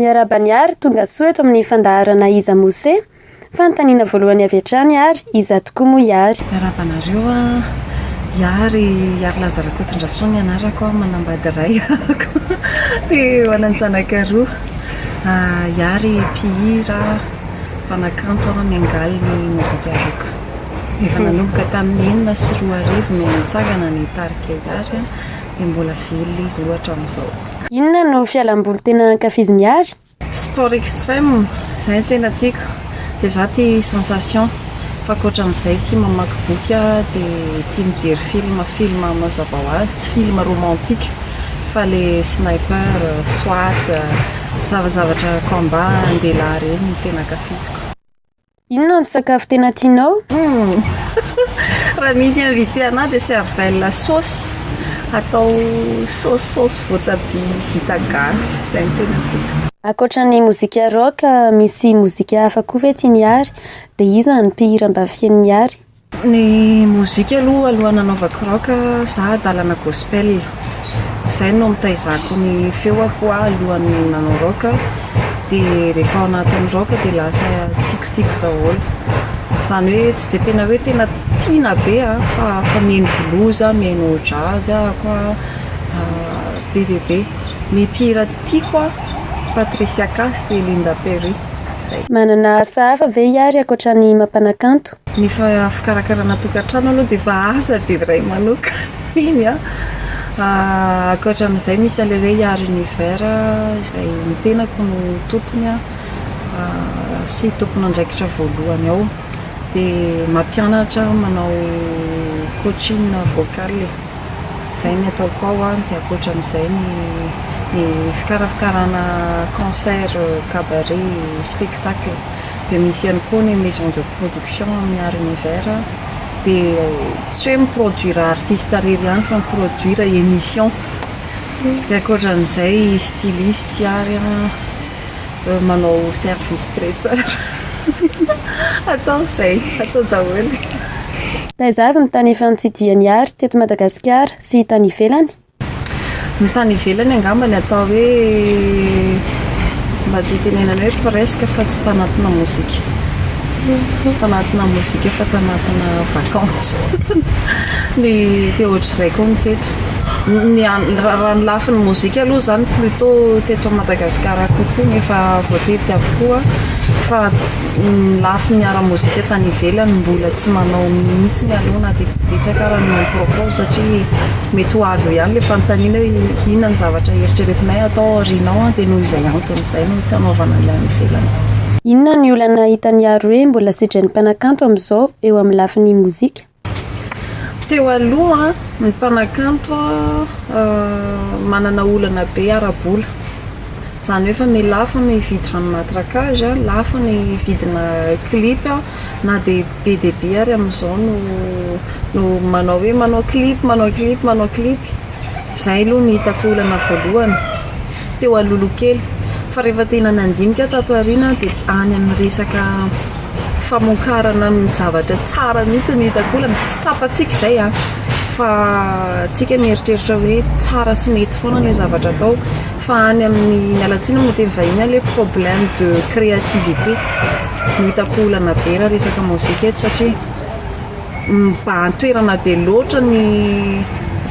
Miarahaba ny ary tonga soa eto amin'ny fandaharana Iza Mose? Fanontaniana voalohany avy hatrany ary iza tokoa moa i Ary? Miarahaba anareo an! I Ary, Ary Laza Rakotondrasoa ny anarako, manambady iray aho dia manan-janaka roa. I Ary mpihira, mpanakanto, miangaly ny mozika rock. Efa nanomboka tamin'ny enina sy roa arivo no nitsangana ny tarika Ihary dia mbola velona izy roa hatramin'izao. Inona no fialamboly tena ankafizin'i Ihary? Sport extrême, izay no tena tiako, dia za tia sensation, fa ankoatran'izay tia mamaky boky aho, dia tia mijery film, film mazava ho azy, tsy film romantique fa le sniper, soit, zava-zavatra combat an-dehilahy ireny no tena ankafiziko. Inona no sakafo tena tianao? Hmm. Raha misy invité anah dia cervelle sauce atao sauce sauce voatabia vita gasy izay no tena tiako. Akoatra ny mozika rock, misy mozika hafa koa ve tian'i Ary? Dia iza ny mpihira mba fihaino ny Ary? Ny mozika aloha alohan'ny hanaovako rock za adalana gospel, izay no nitaizako ny feoko aho alohan'ny nanao rock, dia rehefa ao anatin'ny rock dia lasa tikotiko daholo, izany hoe tsy dia tena hoe tena tiana be an, fa fa mihaino blues aho, mihaino jazz ahako an, be dia be, ny mpihira tiako an, Patricia Cass dia Linda Perry, izay. Manana asa hafa ve i Hery ankoatra ny mampanakanto? Ny fikarakarana tokantrano aloha dia efa asa be iray manokana iny an! ankoatra an'izay misy an'ilay hoe Yard Univers izay ny tenako no tompony sy tompon'andraikitra voalohany ao, dia mampianatra aho manao coaching vocal e! izay no ataoko ao an, dia ankoatra an'izay ny fikarakarana concert, cabaret, spectacle. dia misy ihany koa ny maison de production amin'ny art univers dia tsy hoe mi-produire artiste irery ihany fa mi-produire émission dia ankoatran'izay styliste ary an manao service traiteur atao izay atao daholo. Taiza avy ny tany efa nitsidihany art teto Madagasikara sy tany ivelany? Ny tany ivelany angamba ny atao hoe mba tsy hitenenana hoe presque fa tsy tanatina mozika tsy tanatina mozika fa tanatina vacance ny te ohatr'izay koa ny teto ny raha ny lafiny mozika aloha zany plutot teto Madagascar kokoa ny efa voatetika avokoa fa Ny lafiny ara-mozika tany ivelany mbola tsy manao mihitsiny aloha na dia betsaka ara no mi-propose satria mety ho avy eo ihany ilay fanontaniana hoe inona ny zavatra eritreretinay hatao aoriana ao dia noho izay antony izay no tsy hanaovana ilay any ivelany. Inona ny olana hitan'i Yaro hoe mbola sedran'ny mpanakanto amin'izao eo amin'ny lafiny mozika? Teo aloha, ny mpanakanto manana olana be ara-bola. Izany hoe fa mi lafo ny hividy rano matraquage, lafo ny vidina clip, na dia be dia be ary amin'izao no manao hoe manao clip, manao clip, manao clip. Izay aloha no hitako olana voalohany teo Alohilokely. Fa rehefa tena nandinika aho tato aoriana dia any amin'ny resaka famokarana ny zavatra tsara mihitsy no hitako olana. Tsy tsapantsika izay an! Fa isika mieritreritra hoe tsara sy mety foana ilay zavatra atao. Fa any amin'ny, miala tsiny amin'ny teny vahiny aho, ilay problème de créativité no hitako olana be raha resaka mozika eto satria. mibahan-toerana be loatra ny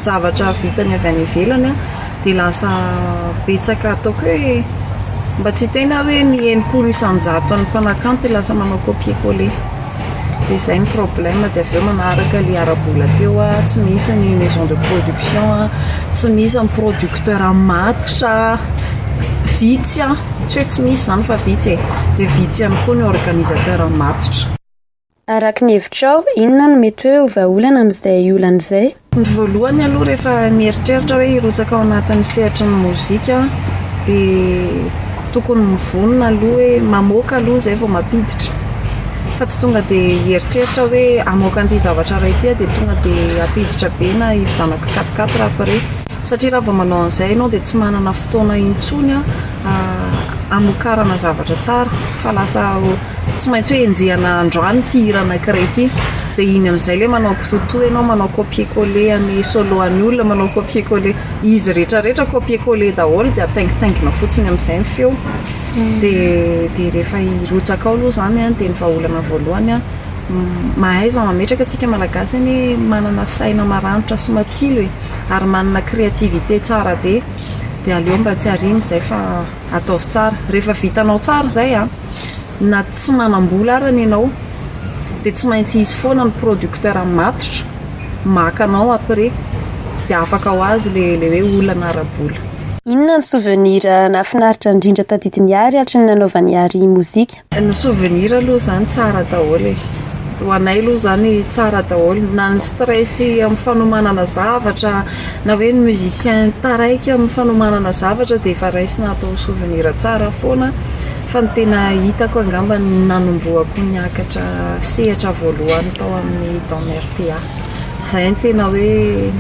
zavatra vitany avy any ivelany dia lasa betsaka ataoko hoe mba tsy hiteny aho hoe ny enimpolo isan-jaton'ny mpanakanto dia lasa manao copier coller dia izay no problème dia avy eo manaraka ilay ara-bola teo aho tsy misy ny maison de production tsy misy ny producteur matotra vitsy an, tsy hoe tsy misy izany fa vitsy e, dia vitsy ihany koa ny organisateur matotra Araka ny hevitrao, inona no mety hoe ho vahaolana amin'izay olana izay? Ny voalohany aloha rehefa mieritreritra hoe hirotsaka ao anatin'ny sehatry ny mozika aho dia tokony mivonona aloha hoe mamoaka aloha izay vao mampiditra fa tsy tonga dia hieritreritra hoe hamoaka an'ity zavatra iray ity aho dia tonga dia hampiditra be na hividianana kitapokaty raha vao re satria raha vao manao an'izay ianao dia tsy manana fotoana intsony hamokarana zavatra tsara fa lasa Tsy maintsy hoe enjehina androany ity hira anankiray ity dia iny amin'izay ilay manao kitotoa ianao manao copier coller an'i solo an'i olona manao copier coller izy rehetra rehetra copier coller daholo dia ataingitaingina fotsiny amin'izay ny feo dia dia rehefa hirotsaka ao aloha izany an dia ny vahaolana voalohany an mahaiza mametraka antsika malagasy anie manana saina maranitra sy matsilo e ary manana créativité tsara be dia aleo mba tsy ariana izay fa Ataovy tsara. Rehefa vitanao tsara izay an, na tsy manam-bola arany ianao dia tsy maintsy hisy foana ny producteur matotra maka anao après dia afaka ho azy le le hoe olana ara-bola. Inona ny souvenir nahafinaritra indrindra tadidin'i Ary hatry ny nanaovan'i Ary mozika? Ny souvenir aloha izany tsara daholo e, ho anay aloha izany tsara daholo na ny stress amin'ny fanomanana zavatra na hoe ny musicien taraiky amin'ny fanomanana zavatra dia efa raisina atao souvenir tsara foana fa ny tena hitako angamba ny nanombohako niakatra sehatra voalohany tao amin'ny don RPA izay no tena hoe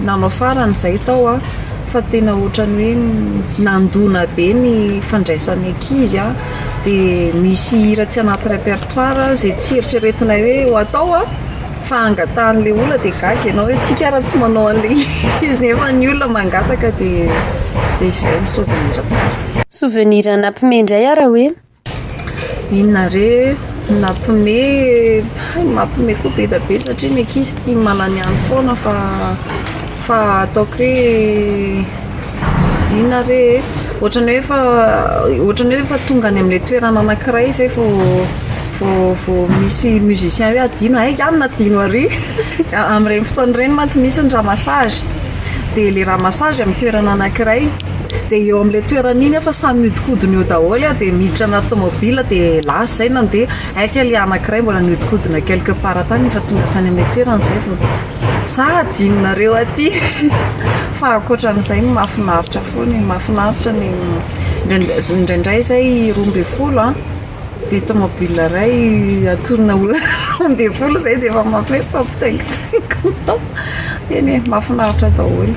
nanao farany izay tao aho fa tena ohatran'ny hoe nandona be ny fandraisan'ny ankizy an! dia misy hira tsy anaty repertoire izay tsy eritreretinay hoe ho atao a fa angatahan'ilay olona dia gaga ianao hoe tsika ara tsy manao an'ilay izy nefa ny olona mangataka dia dia izay ny souvenir tsara Souvenir nampihomehy indray ara hoe? Inona re no nampihomehy? hay ny mampihomehy koa be dia be satria ny ankizy tia mananiany foana fa Fa ataoko re inona re e? Ohatran'ny hoe efa ohatran'ny hoe efa tonga any amin'ilay toerana anankiray izay vao vao vao misy musicien hoe adino hay anona adino ary amin'ireny fotoana ireny mantsy misy ny ramassage dia ilay ramassage amin'ny toerana anankiray dia eo amin'ilay toerana iny aho samy mihodinkodina eo daholo aho dia miditra anaty tomobil dia lasa izay nandeha hay kay ilay anankiray mbola nihodinkodina quelque part tany efa tonga tany amin'ilay toerana izay vao Za hadinonareo aty fa ankoatran'izay ny mahafinaritra foana e, mahafinaritra ny indraindray izay roa ambin'ny folo an, dia tomobile iray atonina olona roa ambin'ny folo izay dia efa mampihomehy fa mpitaingitaingina eny e, mahafinaritra daholo.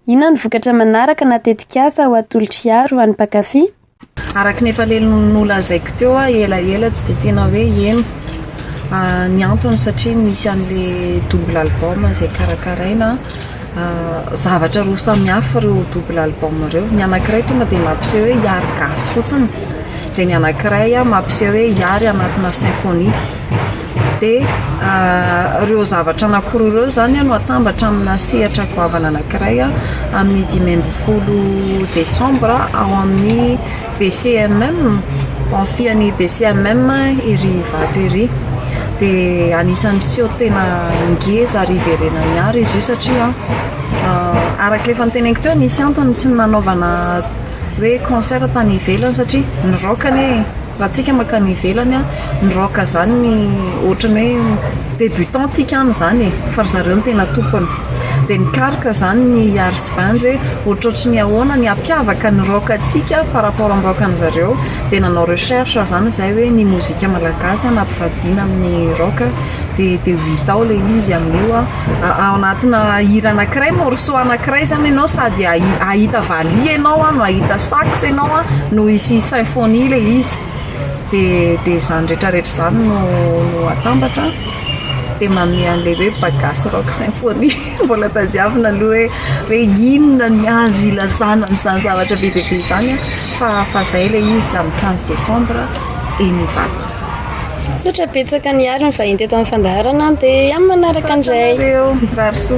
Inona no vokatra manaraka na tetikasa ho atolotr'iaro ho an'ny mpankafy? Araka ny efa leliny nolazaiko teo a elaela tsy dia tena hoe heno ny antony satria misy an'le double album izay karakaraina zavatra roa samihafa ireo double album ireo ny anankiray tonga dia mampiseho hoe hiary gasy fotsiny dia ny anankiray mampiseho hoe hiary anatina symphonie dia ireo zavatra anakiroa ireo izany no atambatra amina sehatra goavana anakiray amin'ny dimy ambin'ny folo desambra ao amin'ny BCMM, baofian'ny BCMM ery Ivato ery. Dia anisan'ny seho tena ngeza ary hiverenan'ny art izy io satria araka ilay efa noteneniko teo nisy antony tsy nanaovana hoe concert tany ivelany satria niraoka anie e. Raha antsika mankany ivelany an, ny rock zany ny ohatran'ny hoe débutant antsika any zany e, fa ry zareo no tena tompony. Dia ny karka zany ny yars band hoe ohatrohatry ny ahoana ny hampiavaka ny rock antsika par rapport amin'ny rock an'i zareo. Dia nanao recherche aho zany izay hoe ny mozika malagasy an ampivadiana amin'ny rock dia dia ho hita ao ilay izy amin'io an. Ao anatina hira anankiray, morceau anankiray zany enao sady ahi- ahita valiha enao a, no ahita sax enao a, no hisy symphonie le izy, de de zany retraretra zany no no atambatra a, de manome anle hoe bagasy rock symphonie, mbola tadiavina aloha hoe hoe inona ny azo ilazana an'izany zavatra be dia be zany a, fa fa zay le izy, amin' ny quinze décembre eny Ivato. Misaotra betsaka Nihary nivahiny teto amin'ny fandaharana an, dia amin'ny manaraka indray. Misaotra anareo, mirary soa.